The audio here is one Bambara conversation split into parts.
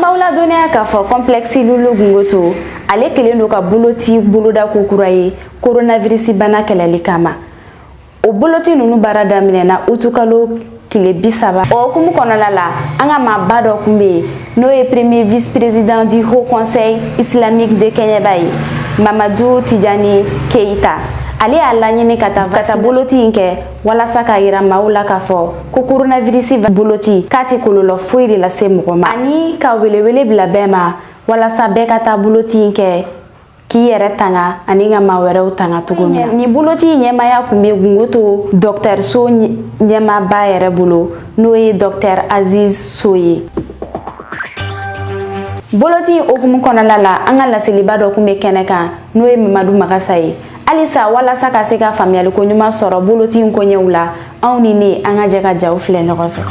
Maaw ladɔnniya k'a fɔ complexe Lulu Gungoto ale kɛlen don ka boloci boloda kokura ye coronavirus bana kɛlɛli kama o boloci ninnu baara daminɛna utukalo kile bi saba o hukumu kɔnɔna la an ka maaba dɔ kun bɛ yen n'o ye premier vice président du haut conseil islamique de kɛɲɛba ye mamadu tijani keyita ale y'a laɲini ka taa boloci in kɛ walasa k'a yira maaw la k'a fɔ ko koronavirisi boloci k'a tɛ kɔlɔlɔ foyi de lase mɔgɔ ma ani ka welewele bila bɛɛ ma walasa bɛɛ ka taa boloci in kɛ k'i yɛrɛ tanga ani ka maa wɛrɛw tanga cogo min na nin boloci ɲɛmaya kun bɛ gungoto dɔkitɛriso ɲɛmaaba yɛrɛ bolo n'o ye dɔkitɛri aziz so ye boloci in hukumu kɔnɔna la an ka laselibaa dɔ kun bɛ kɛnɛ kan n'o ye mamadu magasa ye halisa walasa ka se ka faamuyali koɲuman sɔrɔ boloti in koɲɛw la aw ni ne an ka jɛ ka jaw filɛ ɲɔgɔn fɛ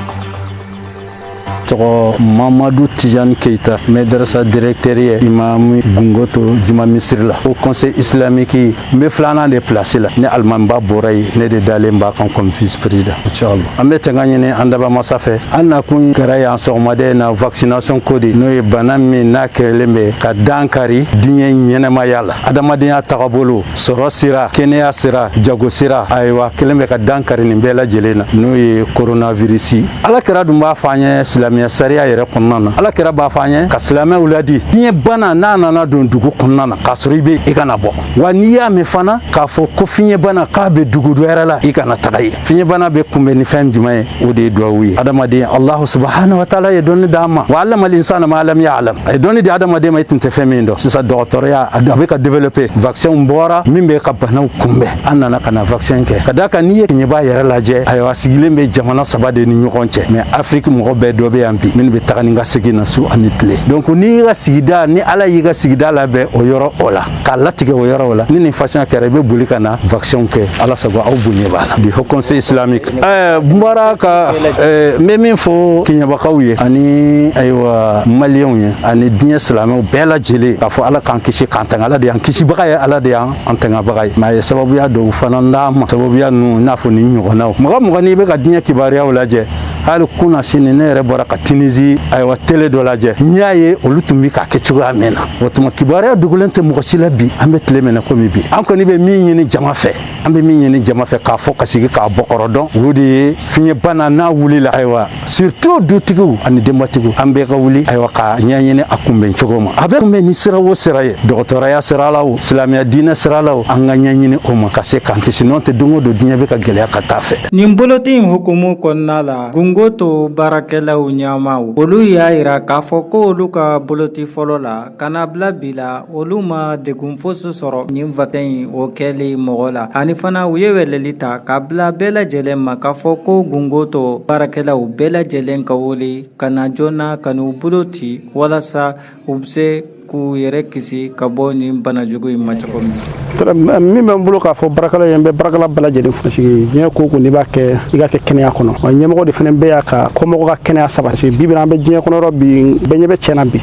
tɔgɔ mamadu tijani keita madarasa directeur ye imami gungoto juma misiri la haut conseil islamique n be filanan de plasi la ni alimamiba bɔra ye ne de dalen b'a kan comme vice président inchallah an be tanga ɲini an dabaa masa fɛ an nakun kɛra yan sɔgɔmada in na vaccination ko de n'o ye bana min n'a kɛlen be ka dankari diɲɛ ɲɛnamaya la adamadenya tagabolo sɔrɔ sira kɛnɛya sira jago sira ayiwa kɛlen bɛ ka dankari nin bɛɛ lajɛlen na n'o ye koronavirisi ala kira dun b'a fɔ an ye silamɛya sariya yɛrɛ kɔnɔna na ala kira b'a fɔ an ye ka silamɛw ladi fiɲɛ bana n'a nana don dugu kɔnɔna na k'a sɔrɔ i bɛ i kana bɔ wa n'i y'a mɛn fana k'a fɔ ko fiɲɛ bana k'a bɛ dugu dɔ wɛrɛ la i kana taga ye fiɲɛbana bɛ kunbɛn ni fɛn jumɛn ye o de ye duwawu ye adamaden alahu subahana wa taala ye dɔnni d'an ma wa alama linsana ma lam ya alam a ye dɔnni di adamaden ma i tun tɛ fɛn min dɔn sisan dɔgɔtɔrɔya a bɛ ka développer vaccin bɔra min bɛ ka banaw kunbɛn an nana ka na vaccin kɛ ka d'a kan n'i ye kɛɲɛba yɛrɛ lajɛ ayiwa sigilen bɛ jamana saba de ni ɲɔgɔn cɛ mais afiriki mɔgɔ bɛɛ dɔ bɛ yan bi minnu bɛ taga ni ka segin na su ani tile donc n'i ka sigida ni ala y'i ka sigida labɛn o yɔrɔ o la k'a latigɛ o yɔrɔ o la ni nin façon kɛra i bɛ boli ka na vaccin kɛ ala sago aw bonya b'a la bi haut conseil islamique ɛɛ n bɔra ka ɛɛ n bɛ min fɔ kɛɲɛbakaw ye ani ayiwa maliyɛnw ye ani diɲɛ silamɛw bɛɛ lajɛlen k'a fɔ ala k'an kisi k'an tanga ala de y'an kisibaga ye ala de y'an tangabaga ye mais a ye sababuya dɔw fana d'an ma sababuya ninnu i n'a fɔ nin ɲɔgɔnnaw mɔgɔ mɔgɔ n'i bɛ ka diɲɛ kibaruyaw lajɛ hali kunasini ne yɛrɛ bɔra ka tinizi ayiwa tele dɔ lajɛ n y'a ye olu tun bi k'a kɛ cogoya min na o tuma kibaruya dogolen tɛ mɔgɔ si la bi an bɛ tile min na komi bi an kɔni bɛ min ɲini jama fɛ an bɛ min ɲini jama fɛ k'a fɔ ka sigi k'a bɔkɔrɔ dɔn o de ye fiɲɛbana n'a wulila ayiwa surtout dutigiw ani denbatigiw an bɛɛ ka wuli ayiwa ka ɲɛɲini a kunbɛn cogo ma a bɛ kunbɛn ni sira o sira ye dɔgɔtɔrɔya sira la o silamɛya diinɛ sira la o an ka ɲɛɲini o ma ka se k'an kisi n'o tɛ don o don diɲɛ bɛ ka gɛlɛya ka taa fɛ nin boloti in hukumu kɔnɔna la gungoto baarakɛlaw ɲɛmaaw olu y'a yira k'a fɔ ko olu ka boloti fɔlɔ la ka na bila bi la olu ma degun fosi sɔrɔ nin vaccin in o kɛli mɔgɔ la ani fana u ye weleli ta ka bila bɛɛ lajɛlen ma k'a fɔ ko gungoto baarakɛlaw bɛɛ lajɛlen ka wuli ka na joona ka n'u boloti walasa u bɛ se k'u yɛrɛ kisi ka bɔ nin bana jugu in ma cogo min min bɛ n bolo k'a fɔ baarakɛla ye n bɛ baarakɛla bɛɛ lajɛlen fo diɲɛ ko o ko n'i b'a kɛ i k'a kɛ kɛnɛya kɔnɔ wa ɲɛmɔgɔ de fana bɛ yan ka kɔmɔgɔ ka kɛnɛya sabati bi bɛna an bɛ diɲɛ kɔnɔ yɔrɔ bi bɛɛ ɲɛ bɛ tiɲɛna bi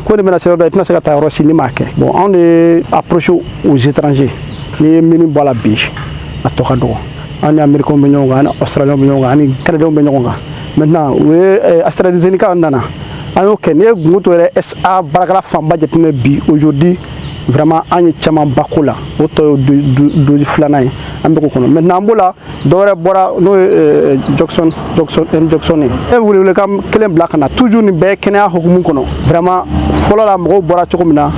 ko de bɛna se yɔrɔ dɔ i tɛna se ka taa yɔrɔ si n'i m'a kɛ bon anw de ye approche aux étrangers n'i ye mine bɔ a la bi a tɔ ka dɔgɔ an ni américains bɛ ɲɔgɔn kan an ni australiens bɛ ɲɔgɔn kan an ni canadiens bɛ ɲɔgɔn kan maintenant u ye eh, astrazeneca nana an y'o kɛ n'i ye gungoto yɛrɛ SA baarakɛla fanba jateminɛ bi aujourd'hui vraiment an ye camanba k'o la o tɔ ye dose filanan ye an bɛ k'o kɔnɔ maintenant an b'o la dɔwɛrɛ bɔra n'o ye euh, johnson johnson and johnson ye ne bɛ welewelekan kelen bila ka na toujours nin bɛɛ kɛnɛya hukumu kɔnɔ vraiment fɔlɔ la mɔgɔw bɔra cogo min na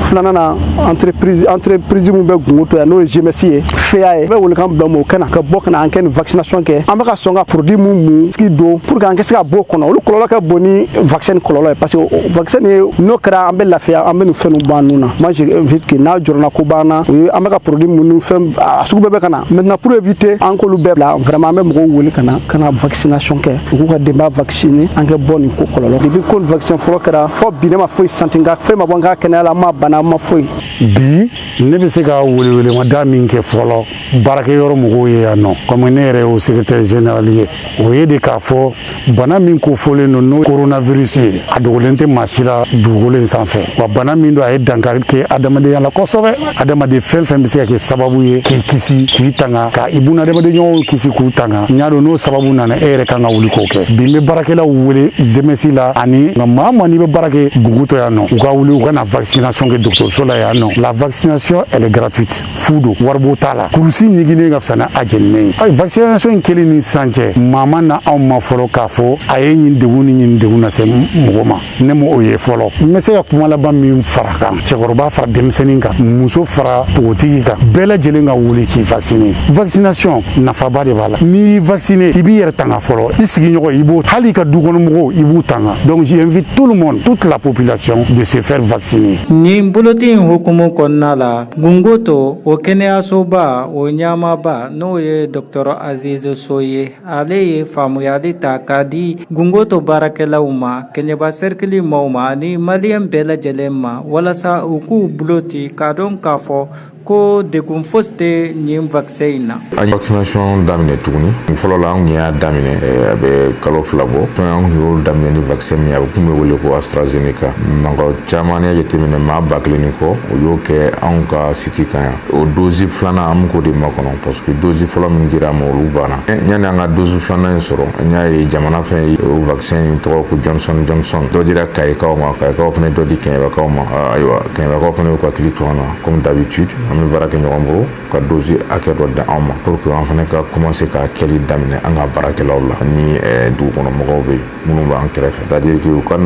filanan na entreprise entreprise min bɛ gungoto yan n'o ye GMS ye FEA ye n bɛ welekan bila mɔgɔw ka na ka bɔ ka na an ka nin vaccination kɛ an bɛ ka sɔn ka produit mun mun sugu don pour que an ka se ka bɔ o kɔnɔ olu kɔlɔlɔ ka bon ni vaccin kɔlɔlɔ ye parce que vaccin ye n'o kɛra an bɛ lafiya an bɛ nin fɛn ninnu bɔ an nun na moi j'invite que n'a jɔrɔnanko b'an na o ye an bɛ ka produit mun ni fɛn a sugu bɛɛ bɛ ka na maintenant pour éviter an k'olu bɛɛ bila vraiment an bɛ mɔgɔw wele ka na ka na vaccination kɛ u k'u ka denbaya vacciner an ka bɔ nin ko kɔlɔlɔ depuis ko nin vaccin fɔlɔ kɛra fo bi ne ma foyi sentir n kan foyi ma bɔ n ka kɛnɛya la n ma bana n ma foyi bi ne bɛ se ka welewelemada min kɛ fɔlɔ baarakɛyɔrɔ mɔgɔw ye yan nɔ comme ne yɛrɛ y'o secrétaire général ye o ye de k'a fɔ bana min kofɔlen don n'o coronavirus ye a dogolen tɛ maa si la dugukolo in sanfɛ wa bana min don a ye dankari kɛ adamadenya la kosɛbɛ adamaden fɛn fɛn bɛ se ka kɛ sababu ye k'i kisi k'i tanga ka i bunadamadenɲɔgɔnw kisi k'u tanga n y'a dɔn n'o sababu nana e yɛrɛ kan ka wuli k'o kɛ bi n bɛ baarakɛlaw wele GMS la ani maa o maa n'i bɛ baara kɛ gungoto yan nɔ u ka wuli u ka na vaccination kɛ dɔgɔtɔrɔso la yan nɔ la vaccination elle est gratuite fu don waribɔ t'a la kurusi ɲiginnen ka fisa ni a jeninen ye ayi vaccination in kɛli ni sisan cɛ maa ma na anw ma fɔlɔ k'a fɔ a ye nin degun ni nin degun lase mɔgɔ ma ne ma o ye fɔlɔ n bɛ se ka kuma laban min fara kan cɛkɔrɔba fara denmisɛnnin kan muso fara npogotigi kan bɛɛ lajɛlen ka wuli k'i vacciner vaccination nafaba de b'a la n'i y'i vacciner i b'i yɛrɛ tanga fɔlɔ i sigiɲɔgɔn i b'o hali i ka dukɔnɔmɔgɔw i b'u tanga donc j'invite tout le monde toute la population de se faire vacciner nin boloti in hukumu kɔnɔna la gungoto o kɛnɛyasoba o ɲɛmaaba n'o ye dɔgɔtɔrɔ aziz sow ye Ale ye faamuyali ta k'a di gungoto baarakɛlaw ma kɛɲɛba serikili maaw ma ani maliyɛn bɛɛ lajɛlen ma walasa u k'u bolo ci k'a dɔn k'a fɔ ko degun fosi tɛ nin vaccin in na an ye vaccination daminɛ tuguni fɔlɔ la anw y'a daminɛ a bɛ kalo fila bɔ an y'o daminɛ ni vaccin min a tun bɛ wele ko AstraZeneca mɔgɔ caman n'i y'a jateminɛ maa ba kelen kɔ o y'o kɛ anw ka siti kan yan o dosi filanan an bɛ k'o de makɔnɔ parce que dosi fɔlɔ min dira ma olu banna yanni an ka dosi filanan in sɔrɔ an y'a ye jamana fɛn ye o vaccin in tɔgɔ ko johnson johnson dɔ dira kayikaw ma kayikaw fana ye dɔ di kɛɲɛbakaw ma ayiwa kɛɲɛbakaw fana y'u hakili to an na comme d'habitude an bɛ baara kɛ ɲɔgɔn bolo u ka dosi hakɛ dɔ di anw ma pour que an fana ka commencer ka kɛli daminɛ an ka baarakɛlaw la ni dugukɔnɔmɔgɔw bɛɛ minnu b'an kɛrɛfɛ c'est-à-dire que u ka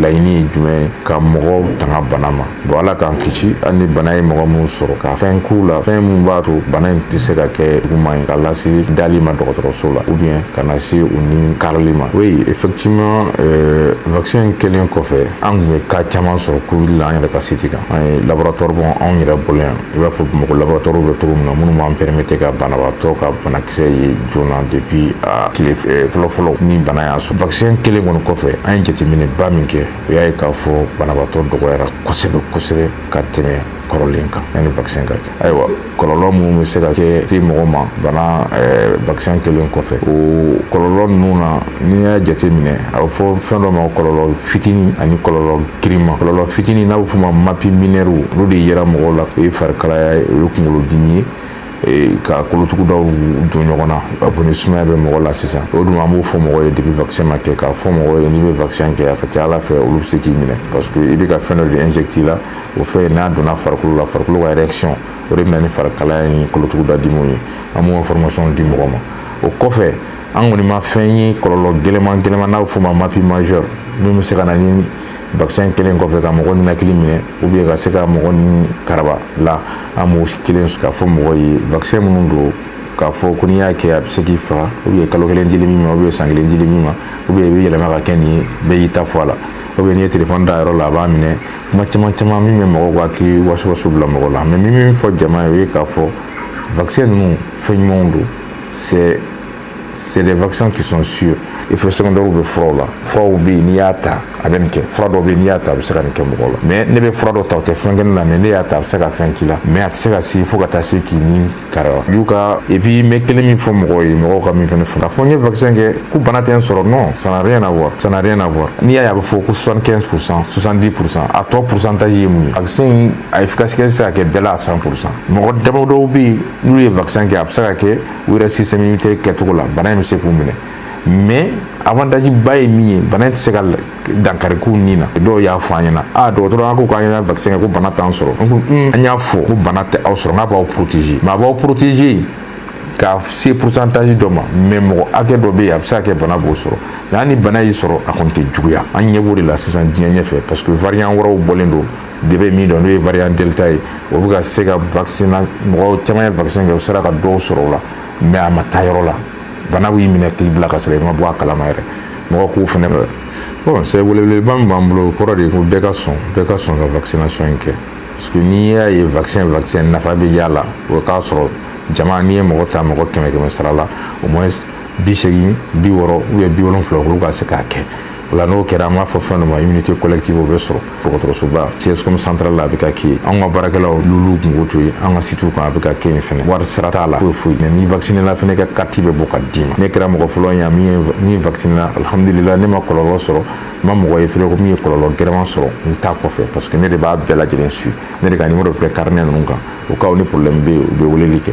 laɲini ye jumɛn ye ka mɔgɔw tanga bana ma bon ala k'an kisi hali ni bana ye mɔgɔ minnu sɔrɔ ka fɛn k'u la fɛn min b'a to bana in tɛ se ka kɛ juguman ye k'a lase dali ma dɔgɔtɔrɔso la ou bien ka na se u ni karili ma oui effectivement euh, vaccin kɛlen kɔfɛ an tun bɛ cas caman sɔrɔ covid la an yɛrɛ ka siti kan an ye laboratoire b'anw yɛrɛ bolo yan i b'a fɔ mɔgɔ laboratoire bɛ cogo min na minnu b'an pɛrɛmete ka banabaatɔ ka banakisɛ ye joona depi a tile eh, fɔlɔfɔlɔ ni bana y'a sɔrɔ vakisɛn kɛlen kɔni kɔfɛ an ye jateminɛba min kɛ o y'a ye k'a fɔ banabaatɔ dɔgɔyara kosɛbɛ kosɛbɛ ka tɛmɛ kɔrɔlen kan yanni vakisɛn ka kɛ ayiwa kɔlɔlɔ minnu bɛ se ka kɛ se mɔgɔ ma bana eh, vakisɛn kɛlen kɔfɛ o kɔlɔlɔ ninnu na n'i y'a jateminɛ a bɛ fɔ fɛn dɔ ma kɔlɔlɔ fitini ani kɔlɔlɔ girinman kɔlɔlɔ fitinin n'a bɛ f'o ma mapi minɛriw olu de yera mɔgɔw la o ye farikalaya ye o ye kunkolodimi ye Eh, ka kolotugudaw don ɲɔgɔn na a fɔ ni sumaya bɛ mɔgɔ la sisan o dun an b'o fɔ mɔgɔ ye depi vaccin ma kɛ k'a fɔ mɔgɔ ye n'i bɛ vaccin kɛ a ka ca a la fɛn olu bɛ se k'i minɛ parce que i bɛ ka fɛn dɔ de injecter la o fɛn n'a donna farikolo la farikolo ka réaction o de bɛ na ni farikalaya ni kolotuguda dimi ye an b'o information di mɔgɔ ma o kɔfɛ an kɔni ma fɛn ye kɔlɔlɔ gɛlɛman gɛlɛman n'a bɛ f'o ma mapi majeur min bɛ se ka na ni vaccin kɛlen kɔfɛ ka mɔgɔ ninakili minɛ ou bien ka se ka mɔgɔ ni karaba la an m'o kelen k'a fɔ mɔgɔ ye vaccin minnu don k'a fɔ ko n'i y'a kɛ a bɛ se k'i faga ou bien kalo kelen dili min ma ou bien san kelen dili min ma ou bien i bɛ yɛlɛma ka kɛ nin ye bɛɛ y'i ta fɔ a la ou bien n'i ye telefɔni da yɔrɔ la a b'a minɛ kuma caman caman min bɛ mɔgɔw ka hakili wasawasa bila mɔgɔ la mais n bɛ min fɔ jama ye o ye k'a fɔ vaccin ninnu fɛn ɲumanw don c'est c'est des vaccins qui sont sûrs effet secondaire bɛ furaw la furaw bɛ yen n'i y'a ta a bɛ nin kɛ fura dɔ bɛ yen n'i y'a ta a bɛ se ka nin kɛ mɔgɔ la mais ne bɛ fura dɔ ta o tɛ fɛn kɛ ne la mais n'e y'a ta a bɛ se ka fɛn k'i la mais a tɛ se ka se fo ka taa se k'i ni kari wa y'u ka et puis n bɛ kelen min fɔ mɔgɔw ye mɔgɔw ka min fɛnɛ fɔ k'a fɔ n ye vaccin kɛ ko bana tɛ n sɔrɔ non ça n'a rien à voir ça n'a rien à voir n'i y'a ye a bɛ fɔ ko 75 pour cent 70 pour cent a tɔ pourcentage ye mun ye vaccin in a efficacité tɛ se ka kɛ bɛɛ la à 100 pour cent mɔgɔ damadɔw bɛ yen n'u ye vaccin kɛ a bɛ se ka kɛ u yɛrɛ système immunitaire kɛcogo la bana in bɛ se k'u minɛ mais avantage ba ye min ye bana in tɛ se ka dankari k'u ni na dɔw y'a fɔ an ɲɛna a dɔgɔtɔrɔ an ko k'an yɛrɛ vaccin kɛ ko bana t'an sɔrɔ n ko an y'a fɔ ko bana tɛ aw sɔrɔ n k'a b'aw protéger mais a b'aw protéger ka se pourcentage dɔ ma mais mɔgɔ hakɛ dɔ bɛ yen a bɛ se ka kɛ bana b'o sɔrɔ mais hali ni bana y'i sɔrɔ a kɔni tɛ juguya an ɲɛ b'o de la sisan diɲɛ ɲɛfɛ parce que variant wɛrɛw bɔlen don bɛɛ bɛ min dɔn n'o ye variant delta ye o bɛ ka se ka vaccin mɔgɔ caman ye vaccin kɛ o sera ka dɔw sɔrɔ o la mais a ma taa yɔrɔ la bana b'i minɛ k'i bila ka sɔrɔ i ma bɔ a kalama yɛrɛ mɔgɔ k'u fɛnɛ bon c'est weleweleba min b'an bolo o kɔrɔ de ye ko bɛɛ ka sɔn bɛɛ ka sɔn ka vaccination in kɛ parce que n'i y'a ye vaccin vaccin nafa bɛ y'a la o k'a sɔrɔ jama n'i ye mɔgɔ ta mɔgɔ kɛmɛ kɛmɛ sara la au moins bi seegin bi wɔɔrɔ ou bien bi wolonfila olu ka se k'a kɛ O la n'o kɛra an b'a fɔ fɛn dɔ ma immunité collective o bɛ sɔrɔ dɔgɔtɔrɔsoba CSCOM central la a bɛ ka kɛ yen anw ka baarakɛlaw lulu kungo to yen an ka sitiw kan a bɛ ka kɛ yen fɛnɛ wari sara t'a la foyi foyi mais n'i vacciné la fɛnɛ ka carte bɛ bɔ ka d'i ma ne kɛra mɔgɔ fɔlɔ ye min ye min vacciné la alhamdulillah ne ma kɔlɔlɔ sɔrɔ n ma mɔgɔ ye fɛnɛ ko min ye kɔlɔlɔ gɛlɛnman sɔrɔ a ta kɔfɛ parce que ne de b'a bɛɛ lajɛlen suivre ne de ka numéro bɛ carnet ninnu kan au cas où ni problème bɛ yen u bɛ weleli kɛ